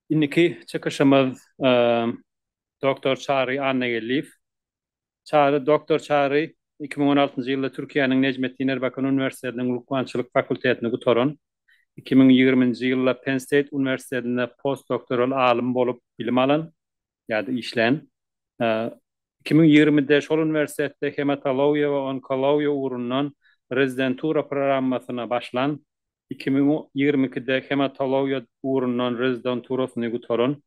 Indiki çykyşymyz Doktor Çary Annageldiýew. Çary Doktor Çary iki müň on altynjy ýylda Türkiýäniň Nejmetdin Erbakan uniwersitetiniň lukmançylyk fakultetini gutaran. Iki müň ýigriminji ýylda Penn State uniwersitetinde postdoktoral alym bolup bilim alan. ýa-da işlän. Iki müň ýigrimide şol uniwersitetde hematologiýa we onkologiýa ugrundan rezidentura programmasyna başlan, iki müň ýigrimi ikide hematologiýa ugrundan rezidenturasyny gutaran,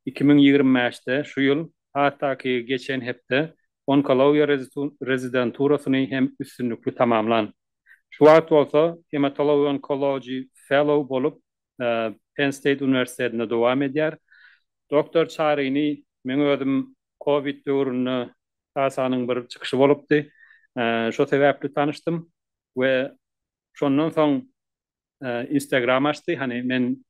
iki müň ýigrimi bäşde, şu ýyl, hatdaky geçen hepde onkologiýa rezidenturasyny hem üstünlikli tamamlan. Şu wagt bolsa Hematology-Oncology Fellow bolup Penn State uniwersitetinde dowam edýär. Doktor Çarini men özüm covid döwründe TASA-nyň bir çykyşy bolupdy. Şo sebäpli tanyşdym we şondan soň Instagram açdy. Hany men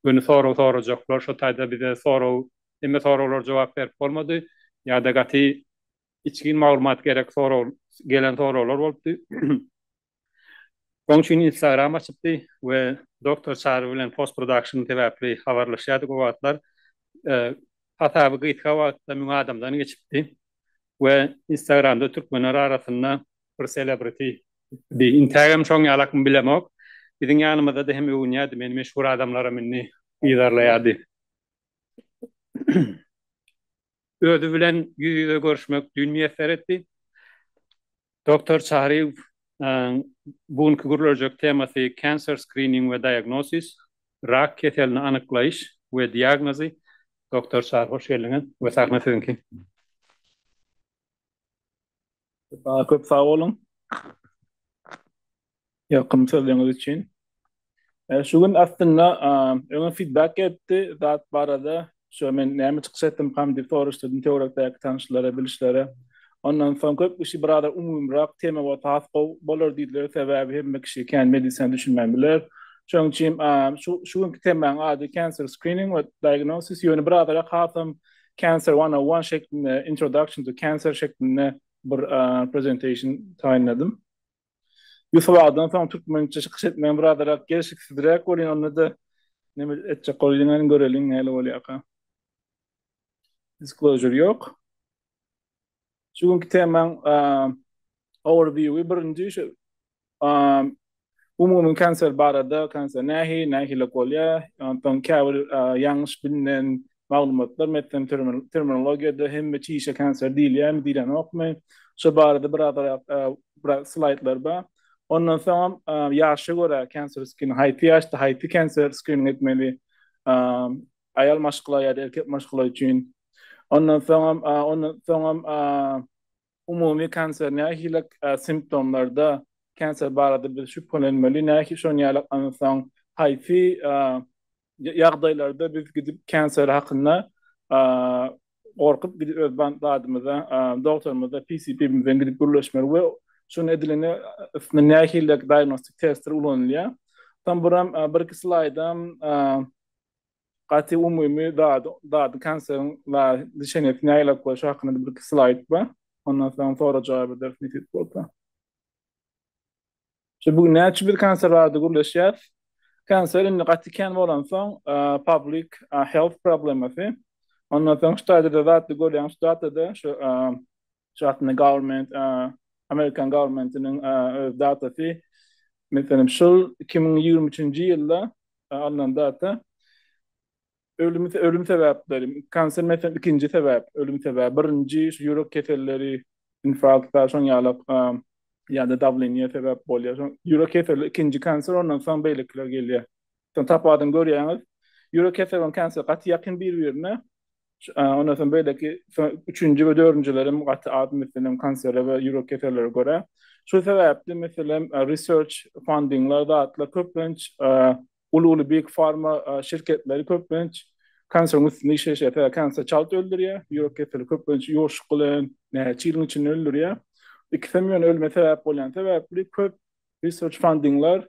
göni sorag sorajaklar şo taýda bize sorag hemme soraglara jogap berip bolmady. Ýa-da gaty içgin maglumat gerek sorag gelen soraglar bolupdy. Oň üçin instagram açypdy we Doktor Çary bilen post production sebäpli habarlaşýardyk o wagtlar hasaby gysga wagtda müň adamdan geçipdi we instagramda türkmenler arasynda bir celebrity di intägem şoň ýalakmy bilemok biziň ýanymyzada hem öwünýärdi meni meşhur adamlaram indi yzarlaýardy. Özi bilen ýüz-ýüze görüşmek düýn miýesser etdi. Doktor Çaryýew bu günki gürleljek temasy Cancer Screening we Diagnosis, Rak keselini anyklaýyş we diagnozy. Doktor Çary, hoş geldiňiz we sahna siziňki. Saňa köp sag boluň. Ýakymly sözleriňiz üçin. E, şu gün aslynda öňe feedback gelipdi zat barada. Şu men näme çykyş etdimkam diýip soraşdym töwerekdäki tanşlara, bilişlere. Ondan soň köp kişi biraz umumyrak tema bolsa has gowy bolar diýdiler. Sebäbi hemme kişi kän medisina düşünmän biler. Şonuň üçin şu şu günki temaň ady cancer screening we diagnosis ýöne biraz hasam Cancer 101 şeklinde, Introduction to Cancer şeklinde bir presentation taýynladym. Ýusup agadan soň türkmençe çykyş etmegim biraderak gelşiksizräk bolýar, onda-da neme etjek bolýaňyny göreliň näle bolýarka. Disclosure ýok. Şu günki temaň overview-i birinji şu umumy kanser barada, kanser nähi, nähilek bolýar, onsoň käbir ýalňyş bilinen maglumatlar, meselem terminologiýada hemme çişe kanser diýilýärmi, diýlenokmy? Şu barada birazrak slaýdlar bar. Ondan soňam ýaşa görä kanser skrini, haýsy ýaşda haýsy kanser skrini etmeli, aýal maşgala ýa-da erkek maşgala üçin. Ondan soňam, ondan soňam umumy kanser nähili simptomlarda kanser barada biz şübhelenmeli, nähili şonuň ýaly ondan soň haýsy ýagdaýlarda biz gidip kanser hakynda gorkup gidip öz zadymyza, dogtorymyza, PCP-mize gidip gürleşmeli we şuny edilende üstünde nähili diagnostik testler ulanylýar. Soň buram bir-iki slaýdam gaty umumy dady, dady konseriň la düşenesi nägilek bolşy hakynda bir iki slaýd bar. Ondan soň sora jogap ederis nesip bolsa. Şu bu näçe bir konser bardy gürleşýäs. Konser indi gaty kän bolansoň, public health problemasy. Ondan soň şu taýda da zatly görýän şu datada şu şu hakynda government Amerikan governmentiniň öz datasy. Meselem şul 2023-nji ýylda alnan data ölüm ölüm sebäpleri kanser mesen ikinji sebäp ölüm sebäbi birinji şu ýürek keselleri infarkt şoň ýaly ýa-da dawleniýe sebäp bolýar şoň ýürek keseli ikinji kanser ondan soň beýlekiler gelýär şoň tapadyny görýäňiz ýürek keseli bilen kanser gaty ýakyn bir-birine Ondan soň beýleki üçünji we dördünjilerem gaty az meselem kansere we ýürek kesellere görä. Şu sebäpli meselem research fundingler zatlar köplenç uly-uly big pharma şirketleri köplenç kanseriň üstünde işleýşýär. Sebäbi kanser çalt öldürýär, ýürek keseli köplenç ýuwaşlyk bilen näçe ýylyň içinde öldürýär. Ikisem ýöne ölüme sebäp bolýan sebäpli köp research fundingler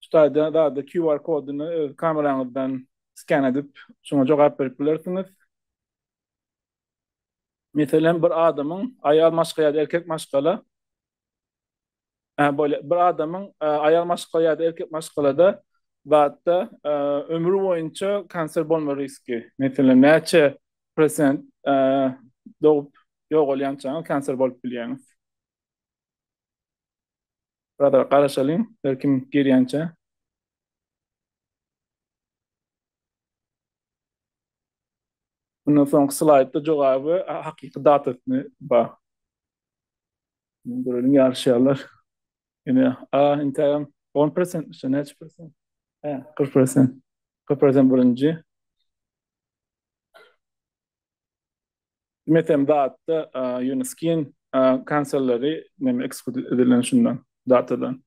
şu taýda dady QR kodyny öz kameraňyzdan sken edip, şoňa jogap berip bilersiňiz. Meselem, bir adamyň, aýal maşgala ýa-da erkek maşgala, bolýar, bir adamyň, aýal maşgala ýa-da erkek maşgalada, zatda, ömri boýunça kanser bolma riski, meselem, näçe prosent, dogup ýogalýançaňyz kanser bolup bilýäňiz. Brother garaşalyň her kim girýänçä. Mundan soňky slaýdda jogaby hakyky datasyny ba. Göreliň ýaryşýarlar. Ine a intägem 10% şu näçe prosent? Hä, 40%. 40% birinji. Metem datda Uniskin kanserleri neme ekskut edilen şundan datadan.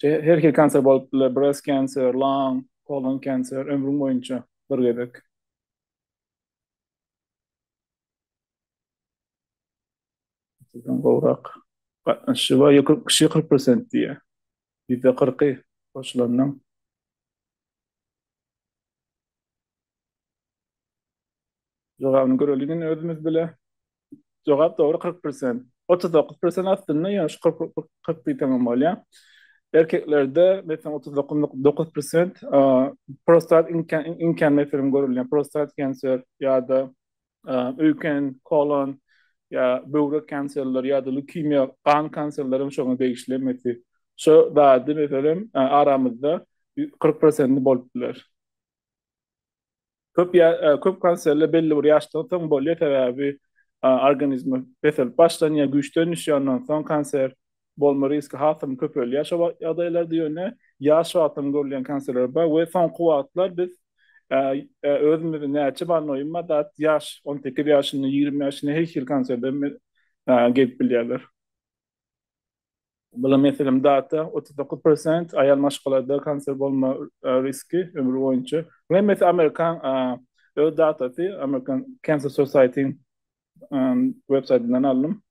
Her hil kanser bolup biler, breast cancer, lung, colon cancer ömrüň boýunça bir gezek. Sizden gowrak gatnaşyjy bar, ýok kişi 40 prosent diýýär. Ýüzde kyrky goşulanyň. Jogabyny göreli indi özümiz bile. Jogap dogry kyrk persent. Otuz dokuz persent aslynda ýa şu kyrk kyrk diýseňem bolýar. Erkeklerde meselem otuz dokuz nokta dokuz persent prostat iňkän iňkän meselem görülýär. Prostat kanser ýa-da öýken, kolon ýa böwrek kanserleri ýa-da leukemiýa gan kanserleri hem şoňa degişli mesi. Şu zady meselem aramyzda kyrk persenti bolup biler. Köp köp konsertler belli bir ýaşdan soň bolýar, sebäbi organizm peselip başlanýar, güýçden düşýär, ondan soň konsert bolma riski has hem köpelýär. Şo wagt ýagdaýlarda ýöne ýaş wagtdan görülýän konsertler bar we soňky wagtlar biz özümizi näçe bar noýuma dat ýaş on sekiz ýaşyna ýigrimi ýaşyna her hili konserde gelip bilýärler. Bula meselem data otuz dokuz prosent, aýal maşgalada kanser bolma riski ömri boýunça. Bul hemmesi amerikan öz datasy, American Cancer Society websaýtyndan aldym.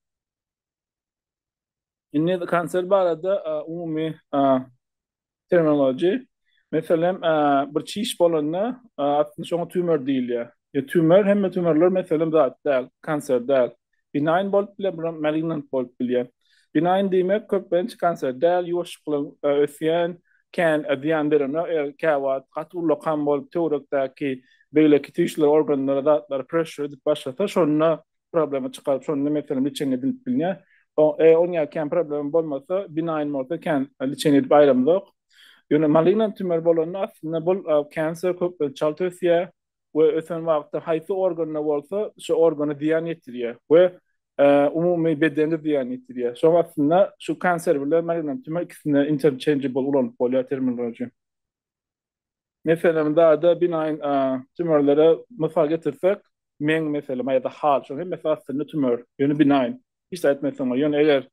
Indi kanser barada umumy Terminology, Meselem, bir çiş bolanda, aslynda şoňa tümör diýilýär. Ýa tümör, hemme tümörler meselem zat däl, kanser däl. Binaýn bolup biler, biram malignant bolup bilýär. Binaýn diýmek köplenç kanser däl, ýuwaşjyklygyň ösýän, kän zyýan berenok, eger käwagt gaty ulla kan bolup töwerekdäki beýleki tüýsler organlara zatlar pressure edip başlasa, şonda problema çykaryp şonda meselem liçengi edilip bilnýär. O e on ýa kän problema bolmasa binaýn bolsa kän liçengi edip aýramzok. Ýöne malignant tümör bolanda aslynda bul cancer köp çalt ösýär we ösen wagtda haýsy organda bolsa şu organa zyýan ýetirýär we umumy bedene zyýan ýetirýär. Şoň aslynda şu cancer bilen malignant tümör ikisinde interchangeable ulanyp bolýar terminology. Meselem, dada, binaýn, a, tümörlere mysal getirsek, meň, meselem, a ýa-da hal, şonuň hemmesi aslynda tümör, ýöne binaýn, hiç zat etmezsiň oňa, ýöne eger,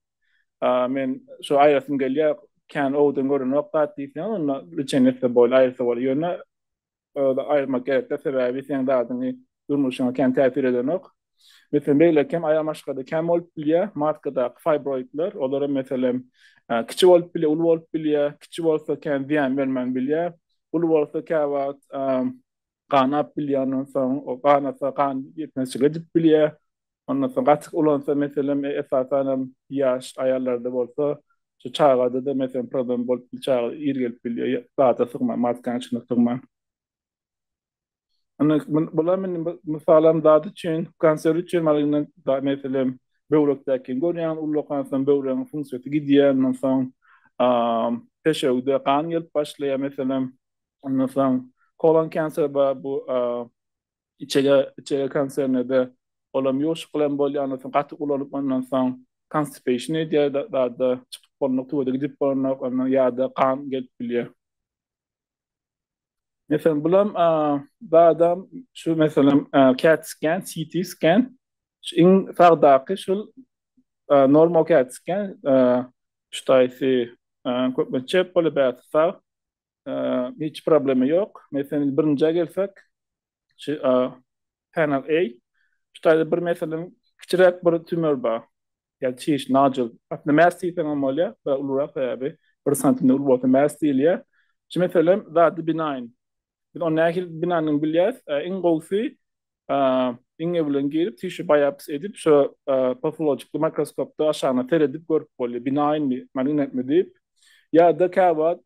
a, men şo aýyrasym gelýär, kän owdan görenok zat diýseň, onda lýuçeniýa etse bolýar, aýyrsa bolýar, ýöne, aýyrmak gerek-de, sebäbi seň dadyňy durmuşyňa kän täsir edenok. Meselem, beýleki hem aýal maşgada kän bolup bilýär. Matkadaky fibroidler, olar hem meselem, kiçi bolup bilýär, uly bolup bilýär. Kiçi bolsa kän zyýan bermän bilýär. Uly bolsa käwagt ganap bilýär, ondan soň o ganasa gan ýetmezçilik edip bilýär. Ondan soň gaty ulansa meselem, esasan hem ýaş aýallarda bolsa, şu çagada-da meselem problem bolup bilýär, çaga ir gelip bilýär, zada sygman, matkanyň içine sygman. Indi bular men mysalam dady üçin, konserw üçin malyny da meselem böwrekdäki görýän ullakan hansam böwregiň funksiýasy gidýär, ondan soň peşewde gan gelip başlaýar meselem. Ondan soň kolon konserw bar bu içege içege konserwde olam ýuwuşyk bilen bolýar, ondan soň gaty ulanyp ondan soň konstipeýşin edýär dady çykyp bolnok, tuwada gidip bolnok, ondan ýa-da gan gelip bilýär. Meselem, bulam badam şu meselem CAT scan, CT scan şu iň sagdaky şul normal CAT scan şu taýsy köpme çep bolup ýa sag hiç problemi ýok. Meselem, birinjä gelsek, Şu a panel A şu taýda bir meselem kiçiräk bir tümör bar. Ýa çiş nodule. Aslynda mass diýseň hem bolýar, biraz ulurak sebäbi 1 sm uly bolsa mass diýilýär. Şu meselem zady benign. Biz ony nähili benign bilýäris? Iň gowusy iňňe bilen girip tissue biopsy edip şo pafologiki mikroskopda aşagyna seredip görüp bolýar. Benign mi, malign mi diýip. Ýa-da käwagt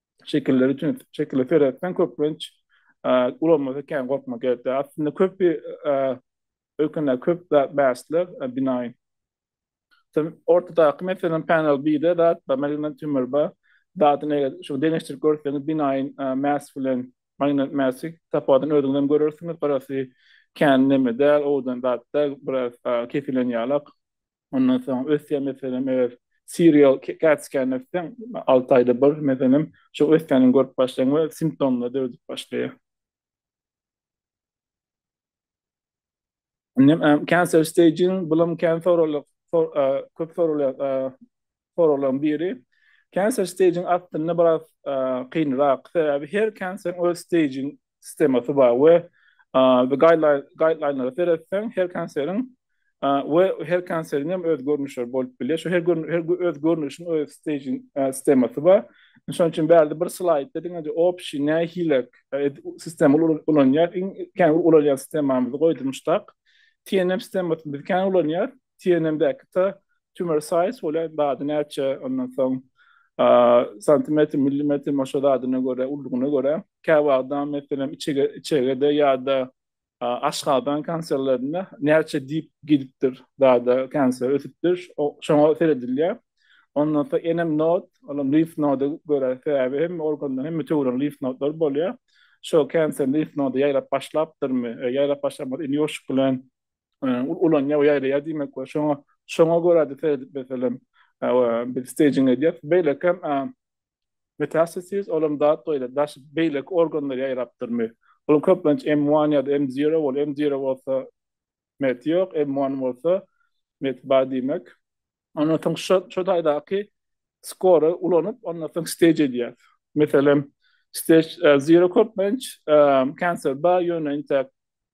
şekilleri üçin şekilleri seretseň köplenç ulanmasa kän gorkmak gerek. Aslynda köp ökünde köp zat bäsler binaýyn. Sen ortadaky meselem panel 1-de zat da magnet tümür ba zadyny eger şu deňeşdirip görseňiz binaýyn mäs bilen magnet mäsi tapawudyny özüňiz hem görersiňiz. Garasy kän neme däl, owdan zat däl, biraz kesilýän ýalak. Ondan soň ösýär meselem eger serial cat scan etseň alty aýda bir meselem şo ösýänini görüp başlaýaň we simptomlar döredip başlaýar. Indi hem cancer staging bulam kän soralyp köp soralýar soraglaryň biri. Cancer stage-iň astynda biraz kynrak, sebäbi her kanseriň öz stage sistemasy bar we guideline-lara seretseň, her kanseriň we her kanseriň hem öz görnüşleri bolup bilýär. Şu her öz görnüşiň öz stage sistemasy bar. Şonuň üçin bärde bir slaýdda diňeje opşi nähilek sistema ulanýar. Iň kän ulanýan sistemamyzy goýdum muştak. TNM sistemasyny biz kän ulanýar. TNM-däki ta tumor size bolýar, bady näçe, ondan soň santimetr, millimetr, maşa zadyna görä, ululygyna görä. Käbir adam, meselem, içege, içegede ýa-da aşgazan kanserlerinde näçe dip gidipdir, zada kanser ösüpdir, şoňa seredilýär. Ondan soň enem nod, olam limf noda görä, sebäbi hemme organda, hemme töweregiň limf nodlary bolýar. Şo kanser limf noda ýaýrap başlapdyrmy, ýaýrap başlamadyk, indi ýoşuk bilen ulanýar we ýaýraýar diýmek bolar. Şoňa şoňa görä-de seredip meselem biz stejing edýär. Beýlekem metastasis olam zat beýle daş beýleki organlara ýaýrapdyrmy? Olam köplenç M1 ýa-da M0 bolup, M0 bolsa met ýok, M1 bolsa met bar diýmek. Ondan soň şu şu taýdaky skora ulanyp, ondan soň stage edýär. Meselem, stage e, zero köplenç e, cancer ba ýöne inte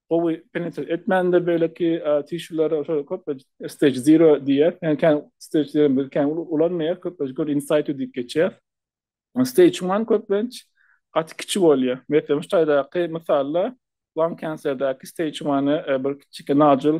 gowy penetre etmändir beýleki e, tişulara şöyle köplenç stage zero diýär. Yani kän stage zero bir kän ulanmaýar, köplenç gör insight diýip geçýär. Stage 1 köplenç gaty kiçi bolýar. Meselem, şu taýdaky mysalda lung cancerdäki stage 1 e, bir kiçi nodule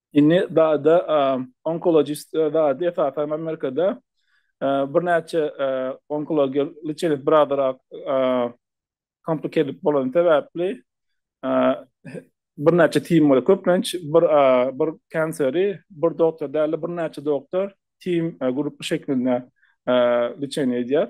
Indi dady onkologist dady esasan Amerikada birnäçe onkologiýa liçenesi birazrak kompliketed bolany sebäpli birnäçe tim bolýar. Köplenç bir bir kanseri bir doktor däl-de birnäçe doktor tim grupy şeklinde liçeniýa edýär.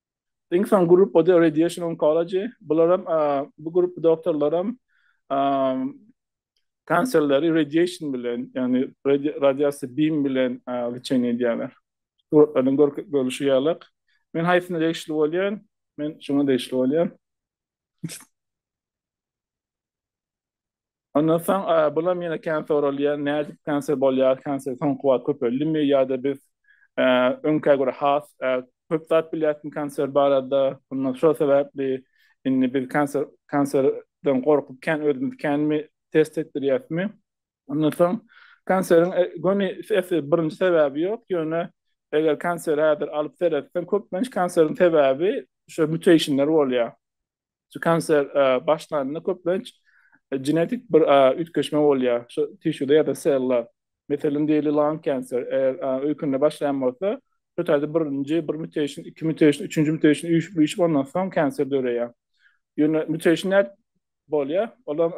Iň soň grup ode radiation oncology. Bularam bu grup doktorlaram kanserleri radiation bilen, yani radiasiýa bim bilen lçeniýa edýärler. Suratlardan görlüşi ýaly. Men haýsyna degişli bolýan? Men şuňa degişli bolýan. Ondan soň bulam ýene kän soralýar, nädip kanser bolýar, kanser soňky wagt köpeldimi ýa-da biz öňkä görä has köp zat bilýärsiň kanser barada, ondan şol sebäpli indi biz kanser kanserden gorkup kän özümizi känmi test etdirýäsmi? Ondan soň kanseriň göni birinji sebäbi ýok, ýöne eger kanseri häzir alyp seretseň, köplenç kanseriň sebäbi şu mutationlar bolýar. Şu kanser başlanda köplenç genetik bir üýtgeşme bolýar. Şu tişuda ýa-da sella. Meselem diýeli lung kanser öýkünde başlaýan bolsa, şu taýda birinji bir mutation, iki mutation, üçünji mutation üýşüp-üýşüp ondan soň kanser döreýär. Ýöne mutation nädip bolýar? Olam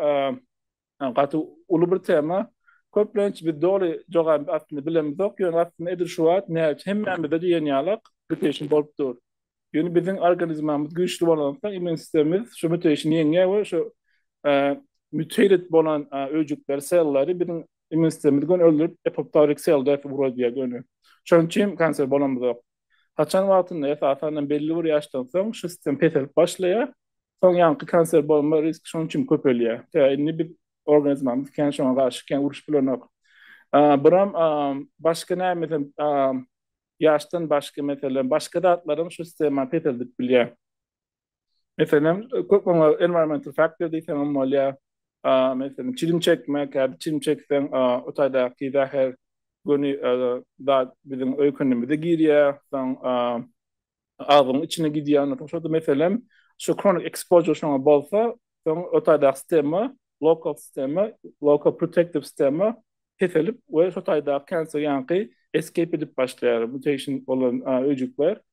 Gaty uly bir tema. Köplenç biz doly jogabyny aslynda bilemizok, ýöne aslynda edil şu wagt näç hemmämizde diýen ýalak mutation bolup dur. Ýöne biziň organizmamiz güýçli bolansoň immun sistemimiz şu mutation ýeňýär we şu mutated bolan öýjükleri, sellary biziň immun sistemimiz göni öldürip apoptotic cell death ugradyýar göni. Şonuň üçin kanser bolamyzok. Haçan wagtynda, esasan hem belli bir ýaşdan soň şu sistem peselip başlaýar. Soň ýaňky kanser bolma riski şonuň üçin köpelýär. Tä indi biz organizmamyz kän şoňa garşy kän uruşyp bilenok. Buram başga nämesem ýaşdan başga meselem başga zatlaram şu sistemany peseldip bilýär. Meselem, köp oňa environmental factor diýseňem bolýar. Meselem, çilim çekmek, käbir çilim çekseň, o taýdaky zäher göni zat biziň öýkenimize girýär, soň agzyň içine gidýär. Ondan soň, meselem, şu kronik ekspožur şoňa bolsa, soň o taýdaky sistema, lokal sistema, lokal protektiw sistema peselip we şo taýdaky kanser ýaňky eskeýp edip başlaýar, mutation bolan öýjükler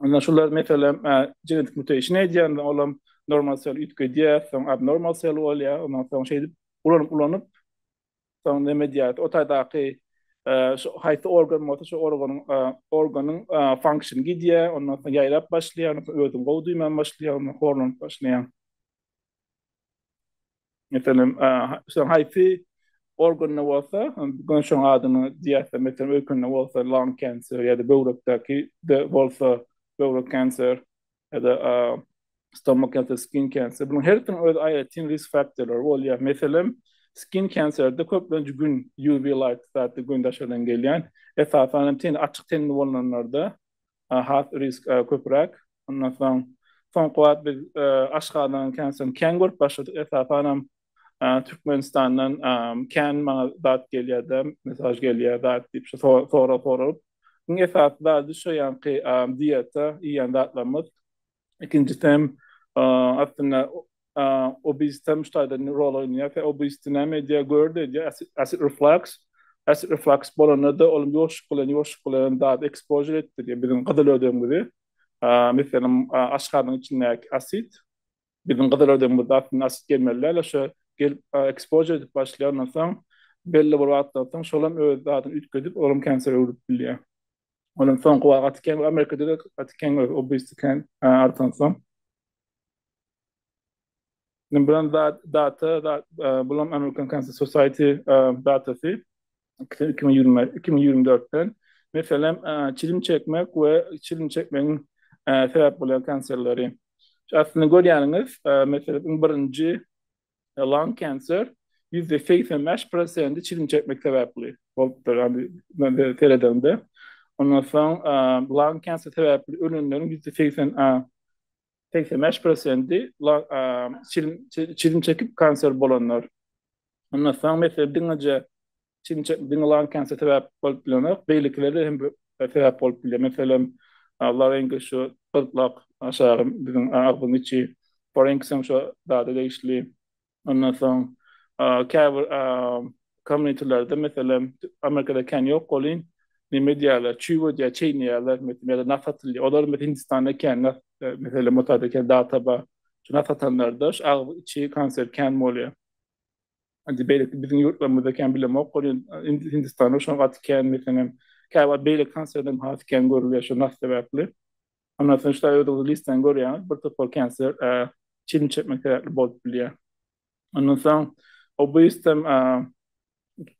Onda şular meselem genetik mutation edýän, olam normal sel üýtgedýär, soň abnormal sel bolýar, ondan soň şeýdip ulanyp-ulanyp soň näme diýýär, o taýdaky şu haýsy organ bolsa şu organyň organyň function gidýär, ondan soň ýaýrap başlaýar, özüni gowy duýman başlaýar, horlanyp başlaýar. Meselem, şoň haýsy organda bolsa, göni şoň adyny diýersiň, meselem, öýkende bolsa lung cancer ýa-da böwrekdäki de bolsa böwrek kanser ýa-da stomach cancer, skin cancer. Bunuň hersiniň öz aýratyn risk faktorlary bolýar. Meselem, skin kanserde köplenç gün, UV light zady gün daşardan gelýän, esasan hem ten açyk tenli bolanlarda has risk köpräk. Ondan soň soňky wagt biz Aşgabadyň känsiň kän görüp başladyk. Esasanam Türkmenistandan kän maňa zat gelýär-de, mesaj gelýär, zat diýip şu sorag soralyp. Iň esasy zady şu ýaňky diýeta iýýän zatlarymyz. Ikinjisi hem aslynda obesity hem şu taýda rol oýnaýar. Obesity näme edýär? Gördi edýär, acid reflux. Acid reflux bolanda-da ol ýoşup bilen, ýoşup bilen zat ekspožir etdirýär biziň gyzyl ödegimizi. Meselem, aşgazanyň içindäki asid, biziň gyzyl ödegimizde aslynda asid gelmeli däl, şo gelip ekspožir edip başlaýar. Ondan soň belli bir wagtdan soň şol hem öz zadyny üýtgedip, ol hem kensere öwrülip bilýär. Ol hem soňky wagt gaty kän, Amerikada-da gaty kän görýäris, obesity kän artansoň. Indi bulan data, bulan American Cancer Society datasy 2024-den. Meselem, çilim çekmek we çilim çekmegiň sebäp bolýan kanserleri. Şu astynda görýäniňiz, meselem, iň birinji lung cancer, ýüzde segsen bäş prosenti çilim çekmek sebäpli bolupdyr, ýagny seredende. Ondan soň lung cancer sebäpli ölenleriň ýüzde segsen segsen bäş prosenti çizim çekip kanser bolanlar. Ondan soň mesele diňeje çizim çekip diňe lan kanser sebäp bolup bilenok, beýlekileri hem sebäp bolup bilýär. Meselem, laryngit şu gyrtlak aşagy biziň agzyň içi, farinks hem şo zada degişli. Ondan soň käbir community-lerde meselem Amerikada kän ýok welin neme edýärler çüw edýär çeýneýärler meselem ýa-da nah satylýar olar meselem Hindistanda kän nah meselem o tarda kän data bar şu nah satanlarda şu agyz içi kanser kän bolýar indi beýleki biziň ýurtlarymyzda kän bilemok welin Hindistanda şonuň gaty kän meselem käbir beýleki kanserlerden has kän görülýär şu nah sebäpli. Ondan soň şular öýdüňiz listany görýäňiz, bir topar kanser çilim çekmek sebäpli bolup bilýär. Ondan soň obestem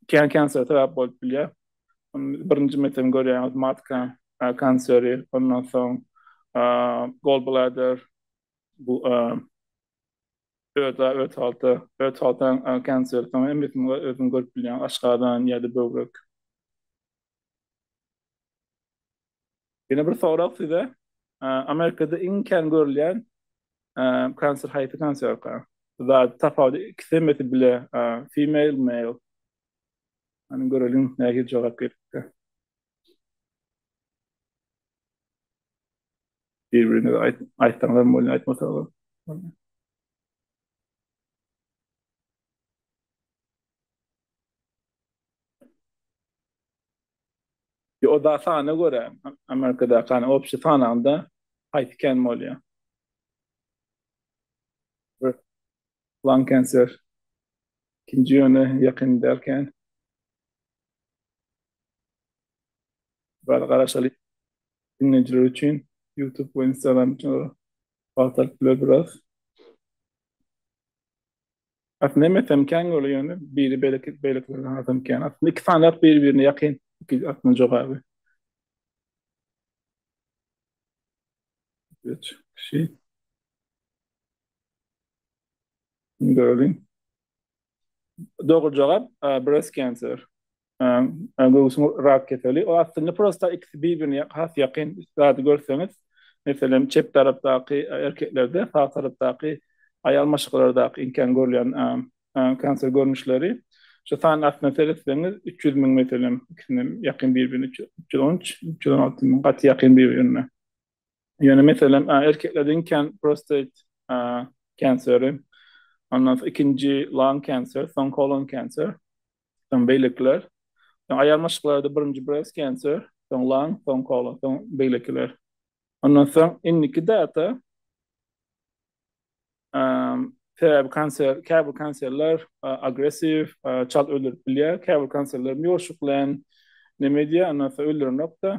kän kanser sebäp bolup bilýär. Birinji metem görýäňiz matka kanseri, ondan soň gallbladder bu ödä öt halta, öt haltan kanseri, soň hemmesini özüňiz görüp bilýäňiz, aşgazan ýa-da böwrek. Ýene bir sorag size. Amerikada iň kän görülýän kanser haýsy kanserka? Zat tapawudy ikisi hemmesi bile female male. Hany göreliň nähili jogap gelipdi. Bir-birine aýt aýtsaňlar bolýar aýtmasaňlar. O da sana görä, Amerikadaky hani obşi sanaňda haýsy kän bolýar? Lung cancer. Ikinji ýöne ýakyn däl kän. Bar garaşaly diňleýjiler üçin YouTube we Instagram üçin wagt alyp biler biraz. Aslynda hem esemkäň ýoly ýöne biri beýleki beýlekilerden azamkän. Aslynda iki sanyýak bir-birine ýakyn iki atnyň jogaby. Geç, kişi. Göreliň. Dogry jogap, breast cancer. göwsüň rak keseli. O aslynda prosta ikisi bir-birine has ýakyn zady görseňiz, meselem, çep tarapdaky erkeklerde sag tarapdaky aýal maşgalalardaky iň kän görülýän kanser görnüşleri. Şu sany aslynda seretseňiz, üç ýüz müň meselem ikisine ýakyn bir-birine, üç ýüz on üç, üç ýüz on alty müň gaty ýakyn bir-birine. Ýöne meselem erkeklerde iň kän prostate kanseri, ondan soň ikinji lung kanseri, soň kolon kanseri, soň beýlekiler. Soň aýal maşklarda birinji breast kanseri, soň lung, soň kolon, soň beýlekiler. Ondan soň indiki data sebäbi kanser, käbir kanserler agressiw, çalt öldürip bilýär, käbir kanserler ýoşuklaýyn neme edýär, ondan soň öldürenok-da.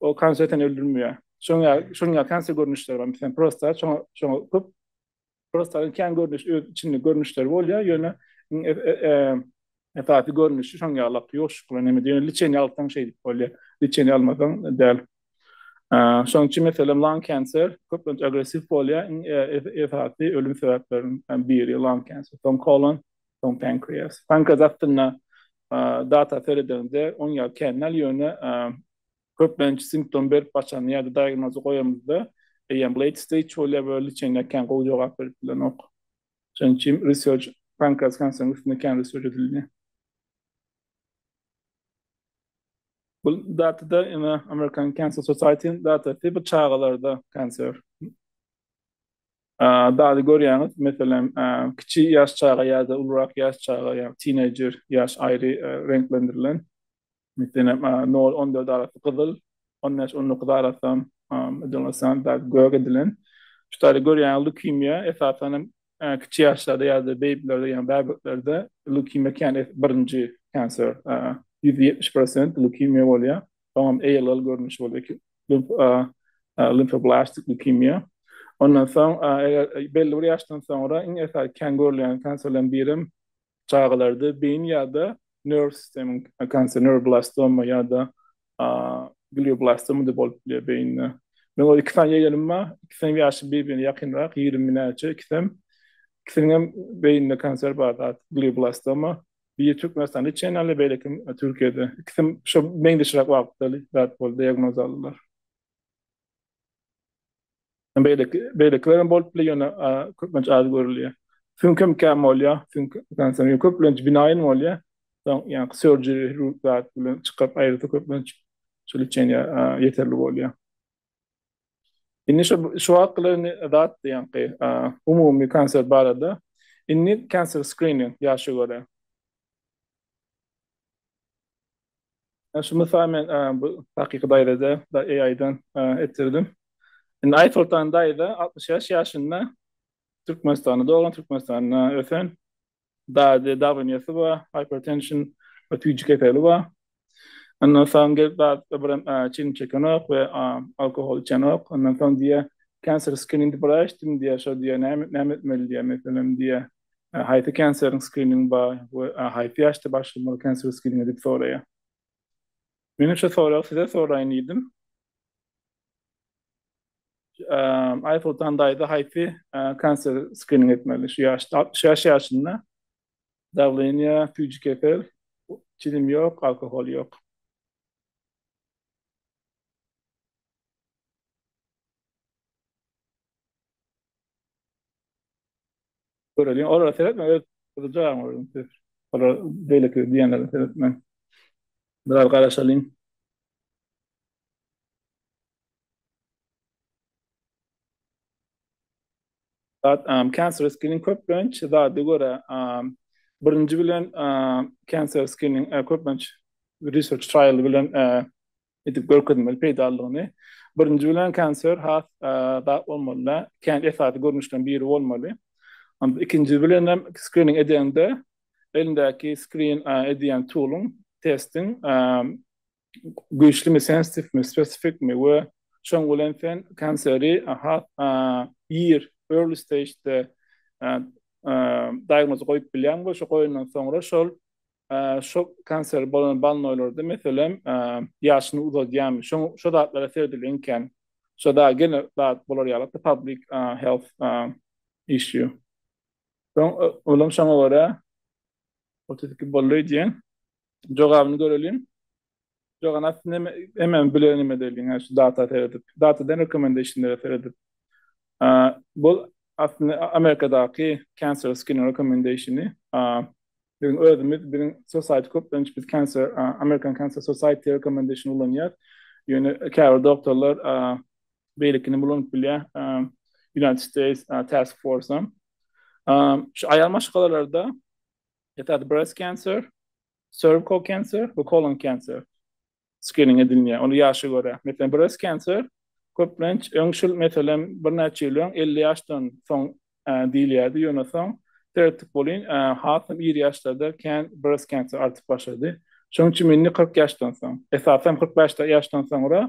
Ol kanser seni öldürmeýär. Şoň ýaly, şoň ýaly kanser görnüşleri bar. Meselem, prostat, şoňa, şoňa köp prostatyň kän görnüş, öz içinde görnüşleri bolýar, ýöne esasy görnüşi şoň ýaly lap ýoşuşykly näme diýen, liçeniýe alsaň şeýdip bolýar. Liçeniýe almasaň däl. Şoň üçin meselem lung kanser köplenç agressiw bolýar. Esasy ölüm sebäpleriniň biri lung kanser. Soň kolon, Soň pankreas. Pankreas astynda data seredeniňde oň ýaly känal ýöne köplenç simptom berip başlanda ýa-da diagnozy goýanymyzda eýýäm late stage bolýar we lçeniýa kän gowy jogap berip bilenok. Şonuň üçin research pankreas kanseriň üstünde kän research edildi. Bu datada ýene American Cancer Society-niň datasy bu çagalarda kanser. Dady görýäňiz, meselem, kiçi ýaş çaga ýa-da ulurak ýaş çaga, ýagny tineýjer ýaş aýry reňklendirilen. Meselem, nol, on dört arasy gyzyl, on bäş, on dokuz arasam dady gök edilen. Şu taýda görýäňiz, leukemiýa esasan hem kiçi ýaşlarda ýa-da beýbilerde, ýagny bäbeklerde leukemiýa kän birinji cancer, ýüz ýetmiş prosent leukemiýa bolýar. Soňam ALL görnüşi boldy ki, limfoblastik leukemia. Ondan soň, eger belli bir ýaşdan soňra iň esasy kän görülýän kanserleriň biri hem çagalarda beýin ýa-da nerw sisteminiň kanseri, neuroblastoma ýa-da glioblastoma diýip bolup bilýär beýinde. Meň öz iki sany ýegenim bar. Ikisiniň ýaşy bir-birine ýakynrak, ýigrimi näçe ikisem. Ikisiniň hem beýninde kanser bar zat, glioblastoma. Biri Türkmenistanda içýan ýaly, beýleki Türkiýede. Ikisem şo meňzeşräk wagtda zat boldy, diagnoz aldylar. Beýleki, beýlekiler hem bolup biler, ýöne köplenç az görülýär. Süňkem kän bolýar, süňk kanseri ýok, köplenç binaýyn bolýar. Soň ýa surgery zat bilen çykaryp aýyrsa köplenç şol içýan ýa ýeterli bolýar. Indi şu şu wagt bilen indi zat diýenki umumy kanser barada. Indi kanser screening ýaşa görä. Şu mysal men bu hakyky daýzada da AI-dan etdirdim. Indi Aýsoltan daýza 60 ýaş ýaşynda Türkmenistanda doglan, Türkmenistanda ösen. Dady dagynýasy bar, hypertension we tüýji keseli bar. Ondan soň gelip zatda bir çilim çekenok we alkohol içenok. Ondan soň diýýär, cancer screening diýip bir açdym diýýär, şo diýýär näme näme etmeli diýýär, meselem diýýär, haýsy kanseriň skriningi bar we haýsy ýaşda başlamaly kanseriň skriningi diýip soraýar. Menem şo soragy size soraýyn diýdim. Eee, Aýsoltan daýza haýsy kanser skrining etmeli? Şu ýaşda, altmyş bäş ýaşynda. Dawleniýa, süýji kesel, çilim ýok, alkohol ýok. Göreliň, olara seretme, öz gyzjagazyňa göreliň siz. Olar beýleki diýenlere seretme. Biraz garaşalyň. But um cancerous skin köplenç zada görä um birinji bilen um cancer skin uh, köplenç research trial bilen uh, edip görkezmeli peýdalylygyny. Birinji bilen cancer has uh, da olmaly. Kän esasy görnüşden biri bolmaly. Onda ikinji bilen hem screening edende elindäki screen uh, edýän toolun, testin um, güýçlimi sensitifmi spesifikmi we şoň bilen sen kanseri ir early stagede diagnoz goýup bilýäň we şo goýandan soňra şol şo kanseri bolan balnoýlarda meselem ýaşyny uzadýarmy şoň şo zatlara seredilýän ekän şo da gene zat bolar ýaly public health issue şoň olam şoňa görä otuz iki boldy diýen Jogabyny göreliň. Jogan asty neme? Hemen bilen neme deliň, ha şu data seredip. Data den recommendation-lere seredip. Bu asty Amerikadaky cancer screening recommendation-i. Biziň özümiz, biziň society köplenç biz cancer, American Cancer Society recommendation ulanýar. Ýöne käbir doktorlar beýlekini ulanyp bilýär. United States Task Force-a. Şu aýal maşgalalarda Esasy breast cancer, cervical cancer we colon cancer skrining edilýär. Ony ýaşa görä. Meselem, breast cancer köplenç öňçül, meselem, birnäçe ýyl öň elli ýaşdan soň diýilýärdi, ýöne soň seretdik welin, hasam ir ýaşlarda kän breast cancer artyp başlady. Şonuň üçin indi kyrk ýaşdan soň, esasan kyrk bäş ýaşdan soňra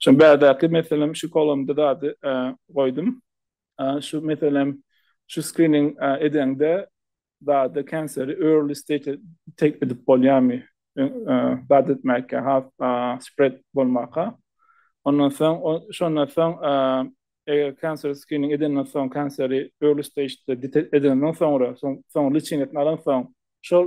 Şo bärdaky meselem şu kolumda zady goýdum. Şu meselem şu skrining edeňde zady kanseri early stage tek edip bolýarmy? Zat etmäge has spread bolmaka. Ondan soň şondan soň eger kanseri skrining edenden soň kanseri early stage edenden soňra soň liçingesini alan soň şol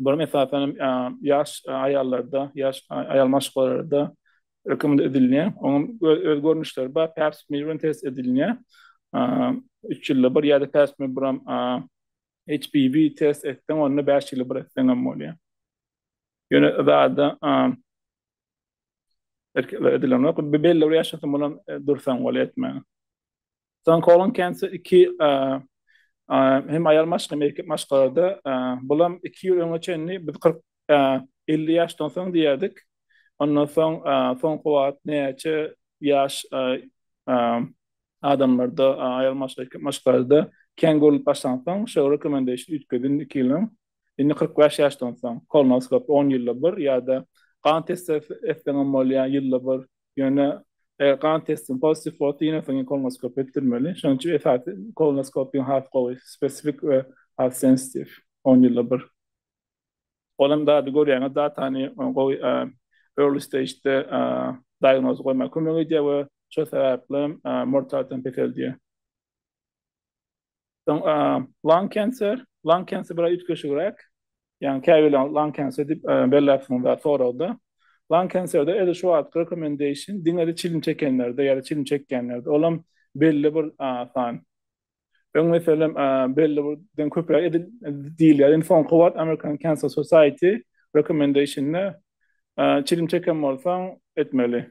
Bularyň esasanam ýaş aýallarda, ýaş aýal maşgalalarda öküminde edilýär. Onuň öz görnüşleri bar. Pap smear bilen test edilýär. Üç ýylda bir ýa-da pap smear buram HPV test etseň, onda bäş ýylda bir etseň hem bolýar. Ýöne zada erkeklere edilenok. Belli bir ýaşa çenli dursaň bolýar etmäge. Soň Colin Kentsi iki hem aýal maşk hem erkek maşkalada bulam iki ýyl öňe çenli biz 40 50 ýaşdan soň diýerdik. Ondan soň soňky wagt näçe ýaş adamlarda aýal maşk erkek maşkalada kän görlüp başlansoň şeýle rekomendation üýtgedin iki ýylyň Indi kyrk bäş ýaşdan soň, kolonoskop on ýylda bir ýa-da gan testi etseňem bolýar, ýylda bir. Ýöne eger gan testiň pozitiw bolsa, ýene soň kolonoskop etdirmeli. Şonuň üçin esasy kolonoskopiýaň has gowy, spesifik we has sensitiw, on ýylda bir. Ol hem dady görýäňiz, datany gowy early stage-de diagnozy goýmaga kömek edýär we şol sebäpli hem mortalitet hem peseldýär. Soň lung cancer, lung cancer biraz üýtgeşigräk. Ýagny käbirler lung cancer diýip belläpsiňizler soragda. Lung cancer-de edil şu wagtky recommendation diňe-de çilim çekenlerde ýa-da çilim çekýänlerde. Olam belli bir san. Öň meselem belli birden köpräk edil diýilýärdi. Indi soňky wagt American Cancer Society recommendation-de çilim çeken bolsaň etmeli.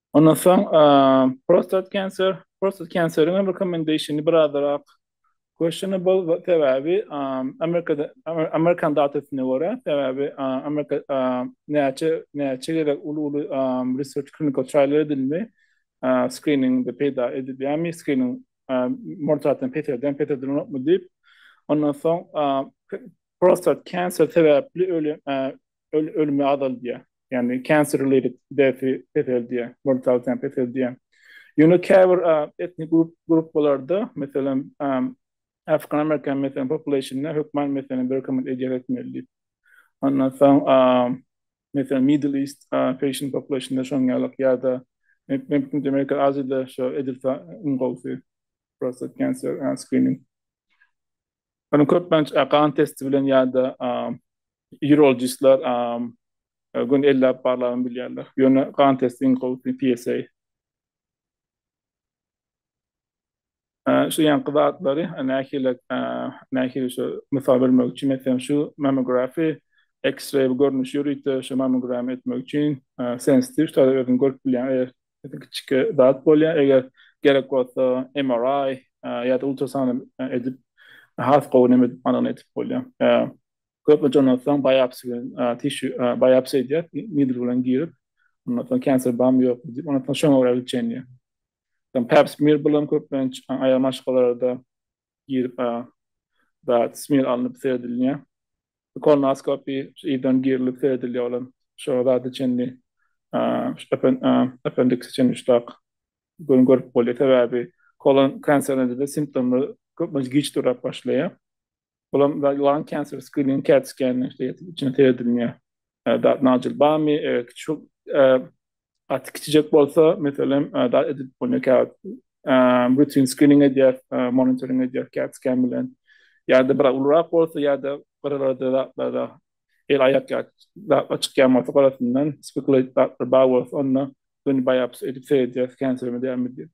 Ondan soň prostat cancer, prostat kanseriň recommendationy birazrak questionable sebäbi Amerikada Amerikan datasyna görä sebäbi Amerika näçe näçe gezek uly uly research clinical trial edildi screeningde peýda edilýärmi screening mortalityny peselden peselden ýokmy diýip ondan soň prostat cancer sebäpli ölen ölümi azaldýar. Ýagny cancer related death-i peseldýär, mortality-ýam peseldýär. Ýöne käbir etnik gruppalarda, meselem, African American meselem population-da hökman meselem bir recommend edýär etmeli diýip. Ondan soň, meselem, Middle East patient population-da şonuň ýalyk ýa-da Merkezi Aziýada şo edilse iň gowusy prostate cancer screening. Ony köplenç gan testi bilen ýa-da urologistler göni elläp barlaryny bilýärler. Ýöne gan testi iň gowusy PSA. Şu ýaňky zatlary nähili nähili şu mysal bermek üçin meselem şu mammography, X-ray görnüşi ýörite şu mammogram etmek üçin sensitiv şular özüňiz görüp bilýäňiz. kiçike zat bolýar. Eger gerek bolsa MRI ýa-da ultrasound edip has gowy näme anygyny edip bolýar. Köplenç ondan soň biopsiýa bilen tişu biopsiýa edýär, nidl bilen girip, ondan soň kanser barmy ýokmy diýip, ondan soň şoňa görä ölçenýär. Pap smear bilen köplenç aýal maşgalalarda girip a zat smir alnyp seredilýär. Kolonoskopi ýerden girilip seredilýär olam şo zada çenli apendiksi çenli üçdäk göni görüp bolýar sebäbi kolon kanserinde simptomlar köplenç giç durap başlaýar. Olam lung cancer screening cat scan içine seredilýär. Dat najil barmy? Şu gaty kiçijek bolsa, meselem, dat edip bolýar käwagt. Rutin screening edýär, monitoring edýär cat scan bilen. Ýa-da biraz ulurak bolsa ýa-da gyralarda zatlarda el-aýak ýaly zatlar çykýan bolsa gyrasyndan, spikulaýt zatlar bar bolsa, onda göni biopsiýa edip seredýär, kansermi dälmi diýip.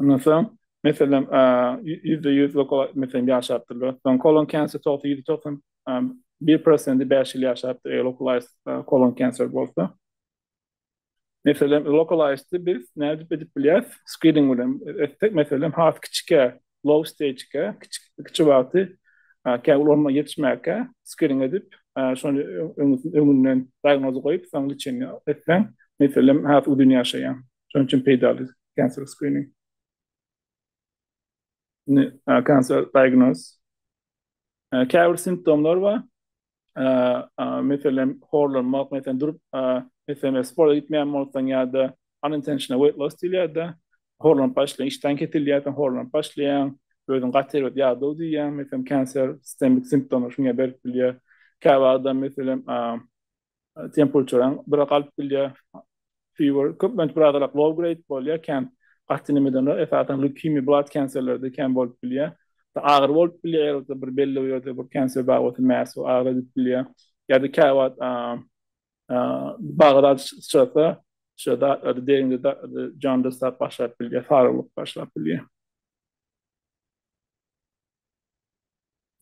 Ondan soň, meselem, ýüzde ýüz lokal, meselem, ýaşapdyrlar. Soň kolon kanser togsa ýüzde togsan bir prosenti bäş ýyl ýaşapdyr, eger lokalaýzd kolon kanser bolsa. Meselem, lokalaýzdy biz nädip edip bilýäris? Skrining bilen etsek, meselem, has kiçikä, low stage-kä, kiçi, kiçi wagty, käbir ulgama ýetişmäkä skrining edip, şony öňünden diagnoz goýup, soň lçeniýa etseň, meselem, has uzyn ýaşaýar. Şonuň üçin peýdaly cancer screening. Ne cancer diagnosis. Käbir simptomlar bar. Meselem, horlanmak, meselem, durup, meselem, sporta gitmeýän bolsaň ýa-da unintentional weight loss diýilýär-de, horlanyp başlaýar, işdäň kesilýärsiň, horlanyp başlaýaň, özüň gaty erbet ýadow diýýäň, meselem, cancer, sistemik simptomlar şuňa berip bilýär. Käbir adam, meselem, temperature-aň biraz galyp bilýär, fever, köplenç biraz arak low grade bolýar, kän gaty inemeden ol, esasan leukemia, blood cancer-lerde kän bolup bilýär. Agyry bolup bilýär, ýa-da da bir belli bir ýerde bir cancer bar bolsa, mass bolup agyry edip bilýär. Ýa-da käwagt bagyra syçrasa, şeýle zatlarda deriňde zatlarda jaundice zat başlap bilýär, sarylyk başlap bilýär.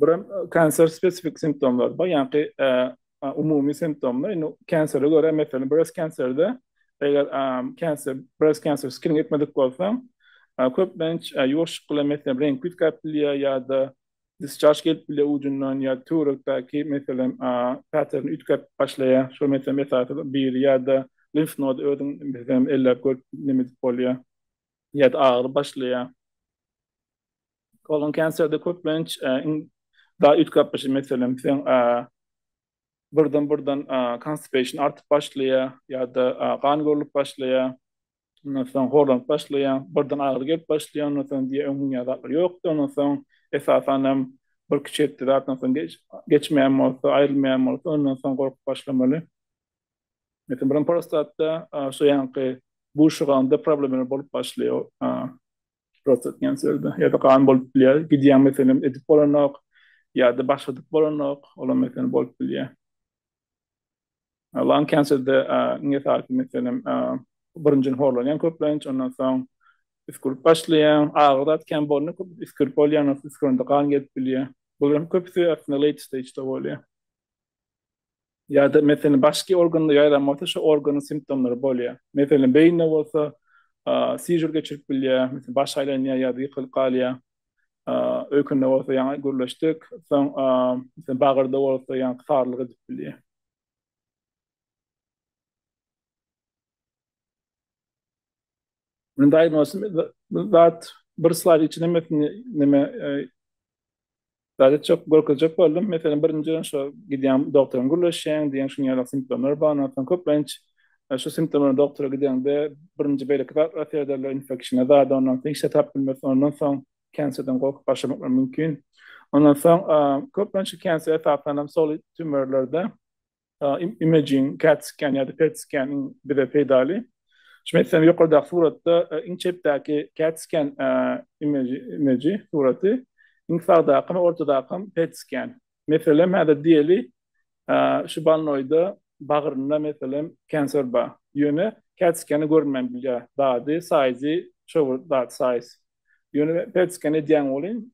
Buram kanser spesifik simptomlar bar, ýagny umumy simptomlar. Indi kansere görä, meselem, breast kanserde eger kanser, breast kanser skrin etmedik bolsaň, köplenç ýuwaşlyk bilen meselem reňk üýtgäp bilýär ýa-da disçarž gelip bilýär ujundan ýa töwerekdäki meselem päterin üýtgäp başlaýar. Şol meselem esasy biri ýa-da limf nody özüň meselem elläp görüp neme edip bolýar ýa-da agyry başlaýar. Kolon kanserde köplenç da üýtgapyşy meselem sen birden birden konstipeşn artyp başlaýar ýa-da gan görlüp başlaýar. Ondan soň horlanyp başlaýar, birden agyry gelip başlaýar, ondan soň diýýär öň mün ýaly ýokdy, ondan soň esasan hem bir kiçi etdi zatdan soň geçmeýän bolsa, aýrylmaýan bolsa, ondan soň gorkup başlamaly. Meselem brom prostatda şu ýanky buşuganda problemler bolup başlaýar. Prostat diýen sözde ýa-da gan bolup bilýär. Gidýäň meselem edip bolanok ýa-da başladyp bolanok, olam meselem bolup bilýär. Lan kenserde iň esasy meselem birinjiden horlanýaň köplenç, ondan soň üsgürip başlaýaň. Agyr zat kän bolanda köp üsgürip bolýar, ondan soň üsgürende gan gelip bilýär. Bularyň köpüsi aslynda late stage-da bolýar. Ýa-da, meselem, başky organda ýaýran bolsa, şo organyň simptomlary bolýar. Meselem, beýinde bolsa, sižur geçirip bilýär, meselem, baş aýlanýar ýa-da ýykylyp galýar. Öýkende bolsa, ýaňy gürleşdik, soň, meselem, bagyrda bolsa, ýaňky sarylyk edip bilýär. Men daýma olsun zat bir slaýd içinde hemmesini näme zat etjek görkezjek boldum. Meselem birinji şo gidýän doktoryň gürleşýän diýen şuň ýaly simptomlar bar. Ondan köplenç şu simptomlar doktora gidende birinji beýleki zatlar serederler, infeksiýa zady ondan soň hiç zat tapyp bilmesin. Ondan soň kenserden gorkup başlamaklar mümkin. Ondan soň köplenç kenser esasanam solid tümörlerde imaging, CAT scan ýa-da PET scan iň bize peýdaly. Şuny etseňiz ýokardaky suratda iň çepdäki CAT scan image, suraty, iň sagdaky hem ortadaky hem PET scan. Meselem häzir diýeli şu balnoýda bagrynda meselem cancer bar. Ýöne CAT scan-i görünmän bilýär. Dady, size-i, şo bir zat size. Ýöne PET scan edýäň welin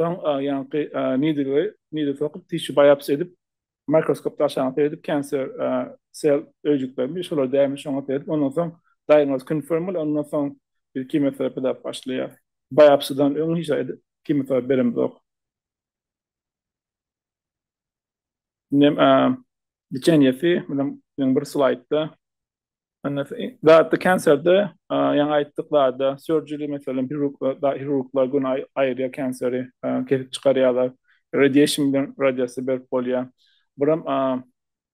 Soň ýaňky needle we needle sokup dişi baýapsy edip mikroskopda aşagyna seredip cancer sel öýjüklermi şolar dälmi şoňa seredip ondan soň diagnoz confirm bolup ondan soň biz kimoterapiýa edip başlaýar. Baýapsydan öň hiç zat kimoterapiýa beremzok. Inem liçeniýesi meniň bir slaýdda Zatda kenserde, ýaňy aýtdyk zatda, surgery meselem, hirurglar gün aýyrýar kenseri, kesip çykarýarlar. Radiation bilen radiasiýa berip bolýar. Buram,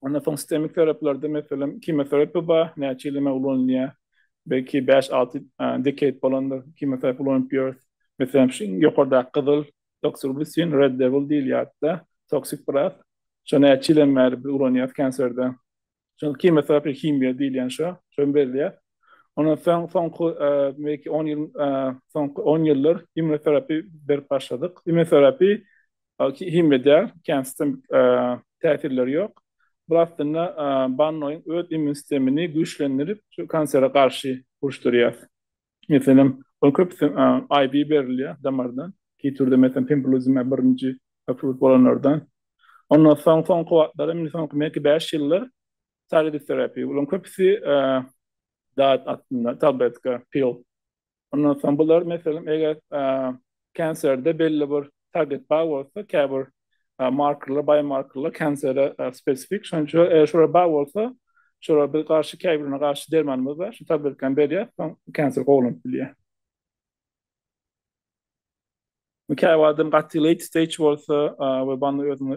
ondan soň sistemik terapilerde meselem, kimoterapiýa bar, näçe ýyl eme ulanylýar. Belki bäş-alty decade bolandyr, kimoterapiýa ulanyp ýörüs. Meselem, şu iň ýokardaky gyzyl, doksirubistin, red devil diýilýärdi-de, toksik biraz. Şony näçe ýyldan bäri biz ulanýarys kenserde. Şol kimýasaky himiýa diýilýän şo, şony belleýär. Ondan soň soňky belki on ýyl, soňky on ýyldyr immunoterapiýa berip başladyk. Immunoterapiýa himiýa däl, kän sistem täsirleri ýok. Bu aslynda bannoýyň öz immun sistemini güýçlendirip, şu kansere garşy uruşdyrýar. Meselem, ol köpüsi IV berilýär damardan. Kitürde meselem pembrolizumab birinji approved bolanlardan. Ondan soň soňky wagtlar hem, indi soňky belki bäş ýyldyr targeted therapy. Bularyň köpüsi dat astynda, tabletka, pil. Ondan soň bular meselem eger Kanserde belli bir target bar bolsa, käbir markerler, biomarkerler kansere spesifik. Şonuň üçin eger şolar bar bolsa, şolara biz garşy käbirine garşy dermanymyz bar. Şu tabletkany berýär, soň kanser kowalanyp bilýär. Käbir adam gaty late stage bolsa we banda özüni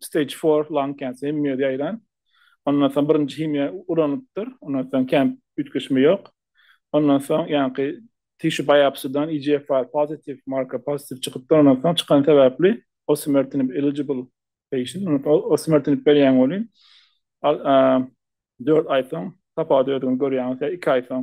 stage four lung cancer hem ýerde ýaýran. Ondan soň birinji himiýa ulanypdyr. Ondan soň kän üýtgeşme ýok. Ondan soň ýaňky tissue biopsy-dan EGFR positive, marker positive çykypdyr. Ondan soň çykany sebäpli osimertinib eligible patient. Ondan soň osimertinib berýän welin, dört aý soň tapawudy özüňiz görýäňiz, ýa iki aý soň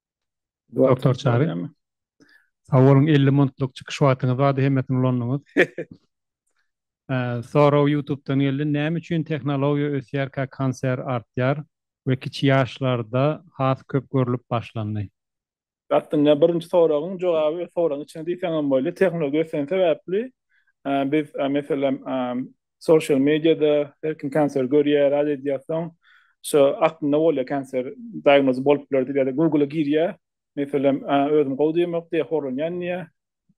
Doktor Çary. Sag boluň, elli muntluk çykyş wagtyňyz bardy, hemmesini ulandyňyz. Sorag Ýutubdan geldi, näme üçin tehnologiýa ösýärkä kanser artýar we kiçi ýaşlarda has köp görlüp başlandy? Aslynda birinji soragyň jogaby soragyň içinde diýseň hem bolýar. Tehnologiýa ösen sebäpli biz meselem Sosial mediada her kim kanser görýär, rad edýär, soň şo aklynda bolýar kanser diagnozy bolup biler diýip ýa-da Google-a girýär, meselem, özüm gowy diýemok diýýär, horlanýan diýýär.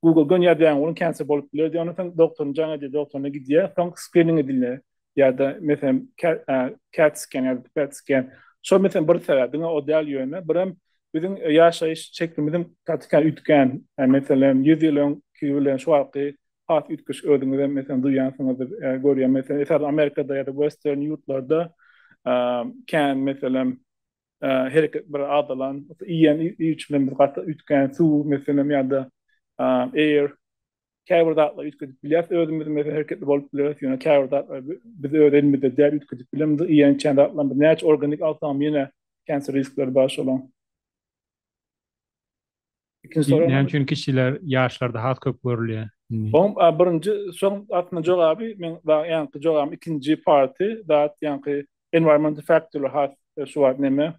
Google gönýär däň oglum kanser bolup biler diýýär, ondan soň doktoryny jaň edýär, doktoryna gidýär, soň skrining edilýär ýa-da meselem cat scan ýa-da pet scan. Şo meselem bir sebäp, diňe o däl ýöne birem biziň ýaşaýyş şeklimiziň gaty üýtgän, meselem ýüz ýyl öňki bilen şu wagtky has üýtgeşik özüňizem meselem duýýansyňyzdyr görýän meselem esasan Amerikada ýa-da western ýurtlarda kän meselem hereket bir azalan iýen iýiçiler bilen gaty üýtgän suw meselem ýa-da air käbir zatlar üýtgedip bilýäs özümiz meselem hereketli bolup bileris ýöne käbir zatlar biz öz elimizde däl üýtgedip bilemiz iýen çen zatlarymyz näçe organik alsam ýene cancer riskleri bar şolaň. Ikinji soragyň. Näme üçin kişiler ýaşlarda has köp görülýär? Oň birinji soň aslynda jogaby men ýaňky jogabym ikinji party dat ýaňky environment factor has şu wagt neme.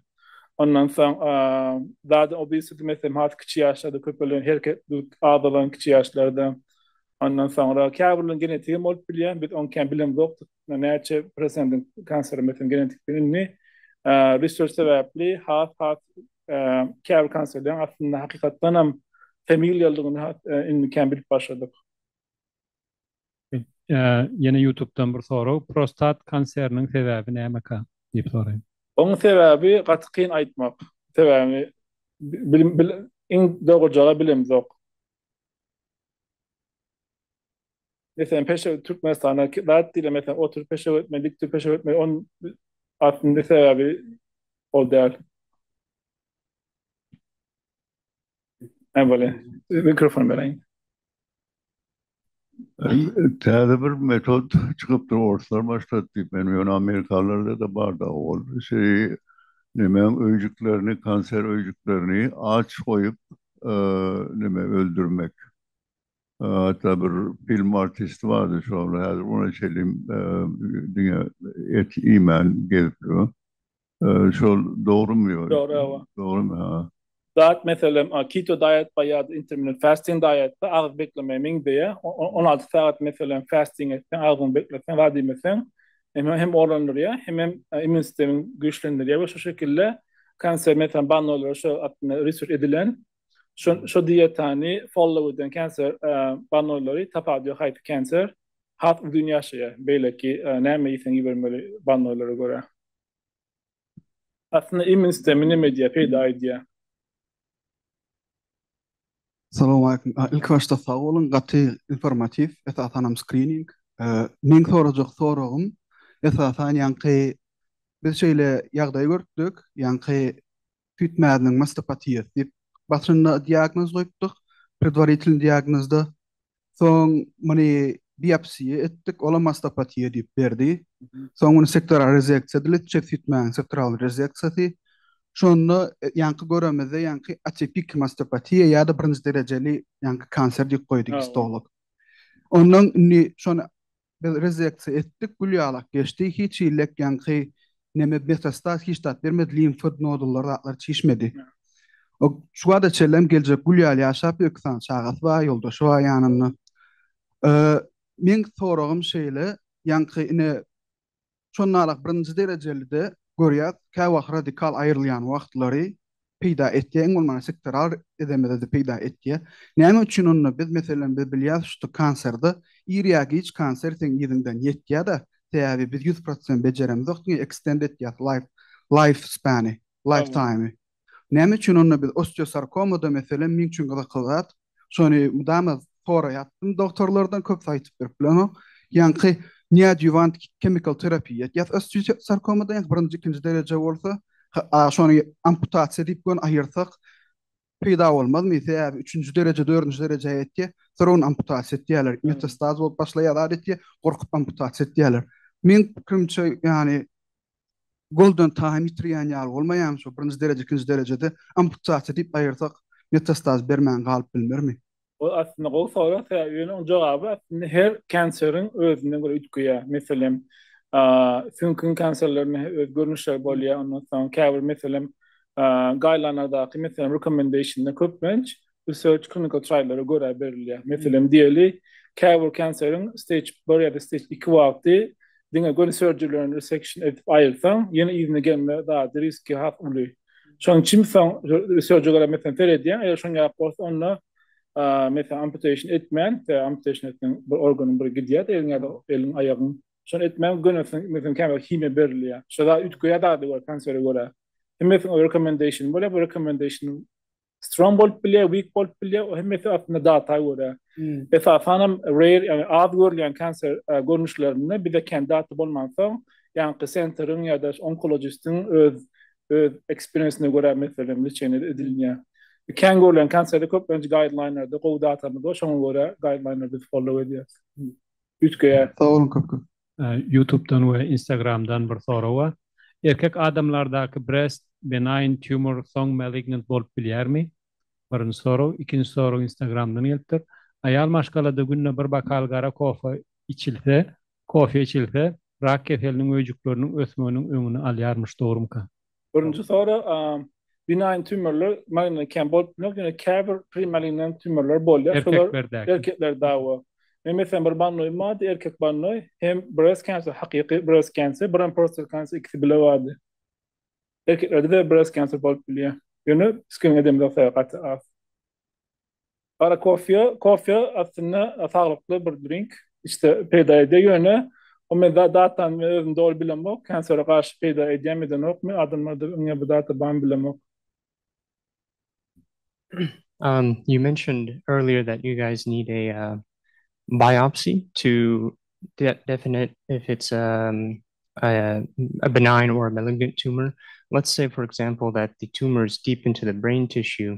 Ondan soň dat obesity meselem has kiçi ýaşlarda köpelen hereket azalan kiçi ýaşlarda. Ondan soňra käbirleriň genetiki bolup bilýär. Biz oň kän bilemzok. Näçe prosentiň kanseri meselem genetik indi research sebäpli has has Käbir konsertleriň aslynda hakykatdan hem familiýalydygyny indikäm bilip başladyk. Ýene ýutubdan bir sorag, Prostat konseriniň sebäbi nämeka? diýip soraýan. Onuň sebäbi gaty kyn aýtmak. Sebäbini iň dogrujagy bilemzok. Meselem, peşew Türkmenistana zat diýle, meselem, oturyp peşew etme, dik durup peşew etme, on aslynda sebäbi ol däl. Hem böyle mikrofon bereyim. Täze bir metod çykypdyr, orslar başlady diýip, men ýöne amerikalylarda da barda ol. Şeý nemäň öýjüklerini, kanser öýjüklerini aç goýup, neme öldürmek. Hatda bir film artisti bardy şol häzir ony çelim diňe et iýmän gezip dur. Şol dogrymy ýok. Dogry hawa. Dogrymy ha. Diet meselem keto diet bar ýa-da intermittent fasting diet bar agyz beklemeýe meň beýe on alty sagat meselem fasting etseň agzyňy bekleseň zat iýmeseň hem orlandyrýar hemem immun sistemiňi güýçlendirýär we şu şekilde kanser meselem bannolara şo hakynda research edilen Şu şu dietany follow eden cancer banolary tapadio hype cancer hat uzun yaşaya. Beyleki näme ýesen ibermeli banolary görä. Aslynda immün sistemi näme edýär, peýda edýär? Salam aleýkum. Ilki başda sag boluň, gaty informatiw, esasanam skrining. Meň sorajak soragym, esasan ýaňky biz şeýle ýagdaý görüpdik, ýaňky süýt mäziniň mastopatiýasy diýip, başynda diagnoz goýupdyk, predwaritelnyý diagnozda. Soň muny biopsiýa etdik, olam mastopatiýa diýip berdi. Soň muny sektoral rezeksiýa edilip, çep süýt mäziniň sektoral rezeksiýasy. Şonda ýaňky göremizde ýaňky atipik mastopatiýa ýa-da birinji derejeli ýaňky kanser diýip goýdy gistolog. Ondan indi şony Biz rezeksiýa etdik, gül ýalak geçdi, hiç hillek ýaňky neme metastaz hiç zat bermedi, limfod nodullar zatlar çişmedi. O şu wada çellem geljek gül ýaly ýaşapdy, iki sany çagasy bar, ýoldaşy bar ýanynda. Meň soragym şeýle, ýaňky ine Şonda-la birinji derejeli-de görýäs, käwagt radikal aýrylýan wagtlary peýda etýär, iň bolmanda sektoral edemede-de peýda etýär. Näme üçin onda biz, meselem, biz bilýäris şu kanserde ir ýa giç kanser seň yzyňdan ýetýär-de, sebäbi biz ýüz prosent bejeremizok, diňe ekstend etýäs life, life span-y, life time-y. Näme üçin onda biz osteosarkomada meselem meň üçin gyzykly zat, şony mydama soraýatdym dogtorlardan köpüsi aýtyp berip bilenok, ýaňky neoadýuwant kemikal terapiýa etýär osteosarkomada ýaňky birinji ikinji dereje bolsa şony amputasiýa diýip göni aýyrsak peýda bolmazmy sebäbi üçünji dereje dördünji derejä ýetýär soň ony amputasiýa etýärler metastaz bolup başlaýar zat etýär gorkup amputasiýa etýärler meň pikirimçe ýany goldan taýyn ýitirýän ýaly bolmaýarmy şo birinji dereje ikinji derejede amputasiýa diýip aýyrsak metastaz bermän galyp bilmermi. Ol aslynda gowy sorag sebäbi ýöne onuň jogaby aslynda her kanseriň özüne görä üýtgeýär. Meselem süňküň kanserlerinde öz görnüşleri bolýar ondan soň käbir meselem gaýlanlardaky meselem rekomendation köplenç research clinical triallara görä berilýär. Meselem, diýeli, käbir kanseriň stage bir ýa-da stage iki wagty diňe göni surgery-lerini resection edip aýyrsaň, ýene yzyna gelme zady, riski has uly. Şonuň üçin biz soň research-e görä meselem seredýäň, eger şoň ýaly bolsa, onda, meselem, amputation etmän, sebäbi amputation etseň bir organyň biri gidýär-de eliň ýa-da eliň, aýagyň. Şony etmän gönisini, meselem, käbir himiýa berilýär. Şo zat üýtgeýär zada görä, kansere görä. Hemmesiniň öz recommendationy bolýar, bu recommendation strong bolup bilýär, weak bolup bilýär. O hemmesi aslynda data görä. Hmm. Esasan hem rare, yani az görülýän kanser e, görnüşlerinde bize kendi data bolmansoň, ýaňky senteriň ýa-da onkologistiň öz öz eksperiensine görä meselem lişeni edilýär. Kän görlen konserde köp önce guideline'larda gowy datamyz bar. Şoňa görä guideline'larda follow edýäris. Üýtgeýär. Sag köp köp. Ýutubdan we Instagramdan bir sorag bar. Erkek adamlardaky breast benign tumor soň malignant bolup bilýärmi? Birinji sorag. Ikinji sorag Instagramdan gelipdir. Aýal maşgalada günde bir bokal gara kofe içilse, kofe içilse, rak keseliniň öýjükleriniň ösmeginiň öňüni alýarmyş, dogrumyka? Birinji soru, binaýn tümürler magnit kem bolup bilmez, ýöne käbir primalinen tümürler bolýar. Erkeklerdäki. Erkekler dawa. Men meselem bir bannoýum bardy, erkek bannoý, hem breast cancer, hakyky breast cancer, bir hem prostate cancer ikisi bile bardy. Erkeklerde-de breast cancer bolup bilýär. Ýöne screening edemizok sebäbi gaty az. Gara kofýa, kofýa aslynda saglykly bir drink, işte peýda edýär ýöne o men zat-zatan men özüm doly bilemok, kansere garşy peýda edýärmi edenokmy, adamlarda öňe bu zat barmy bilemok. Um you mentioned earlier that you guys need a uh biopsy to definite if it's um a benign or a malignant tumor. Let's say for example that the tumor is deep into the brain tissue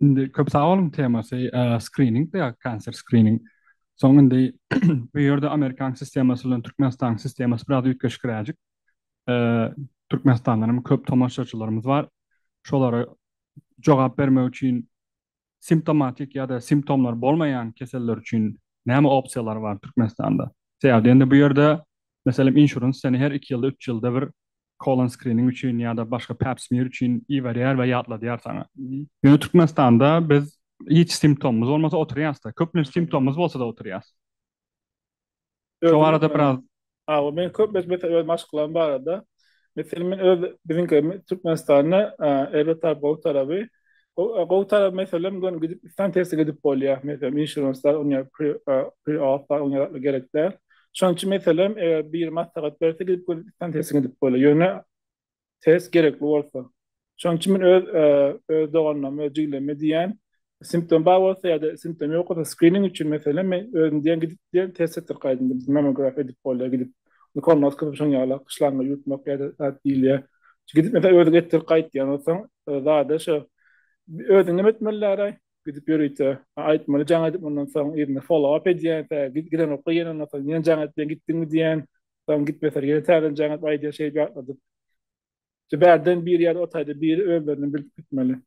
Indi köp sag boluň temasy skrining de cancer skrining. Soň indi bu ýerde amerikan sistemasy bilen türkmenistanyň sistemasy biraz üýtgeşikräjik. Türkmenistandan hem köp tomaşaçylarymyz bar. Şolara jogap bermek üçin simptomatik ýa-da simptomlary bolmaýan keseller üçin näme opsiýalar bar türkmenistanda? Sebäbi indi bu ýerde meselem insurance seni her iki ýylda üç ýylda bir Colon Screening üçin ýa-da başga Pap Smear üçin iberýär we ýatladýar saňa. Ýöne Türkmenistanda biz hiç simptomymyz bolmasa oturýasda. Köplenç simptomymyz bolsada oturýas. Şo barada biraz. Hawa, men köplenç meselem öz maşgalam barada, meselem men öz biziňki Türkmenistanda erbet tarap gowy taraby, Gowy tarap meselem göni gidip istan testi gidip bolýa. Meselem inşuranslar oňa pre-auth oňa gerek däl. Şonuň üçin meselem eger bir maslahat berse gidip göni istan testi gidip bolýa. Ýöne test gerekli bolsa. Şonuň üçin men öz öz doganlaryma, öz jigilerime diýýän, simptom bar bolsa ýa-da simptom ýok bolsa skrining üçin meselem men özüm diýen gidip diýen test etdir gaýdym. Mammografiýa edip bolýa gidip. Unukolmaz kysym şoň ýala gyşlaňňy ýutmak ýa-da zat diýilýär. Gidip mese özi getirip gaýtýan bolsaň zada şo özüň neme etmeliräý gidip ýörite aýtmaly jaň edip mundan soň yzyna follow-up edýän tä gidenokka ýene ondan soň ýene jaň edip ýene gitdiňmi diýen soň gitmeseler ýene täzeden jaň edip aýdýan şeýdip ýatladyp Bärden bir ýer otayda biri özlerini bilip gitmeli.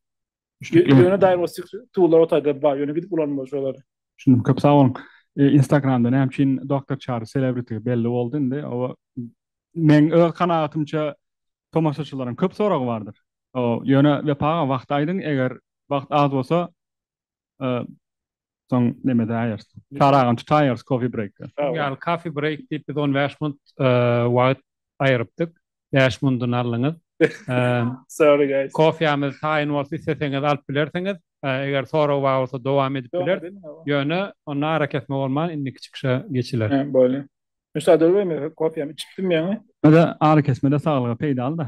Ýöne diagnostik tuwlar otayda bar, ýöne gidip ulanmaly şolary. Düşündim, köp sag boluň. Instagramda näme üçin Doktor Çary selebrity belli boldy indi. Oba meň öz kanagatymça tomaşaçylaryň köp soragy bardyr. Ýöne Wepa aga wagty aýdyň, eger wagt az bolsa Soň neme edäýeris? Çaragam tutaýarys coffee break. Ýaly coffee break diýip biz on bäş munt wagt aýrypdyk. Bäş mundyny aldyňyz. Sorry guys. Kofýamyz taýyn bolsa isleseňiz alyp bilersiňiz. Eger sorag bar bolsa dowam edip bileris. Ýöne onda arakesme bolman indiki çykyşa geçiler. Bolýa. Müsaade ber men kofýamy içipdim ýaňy. Öde arakesmede saglyga peýdaly-da.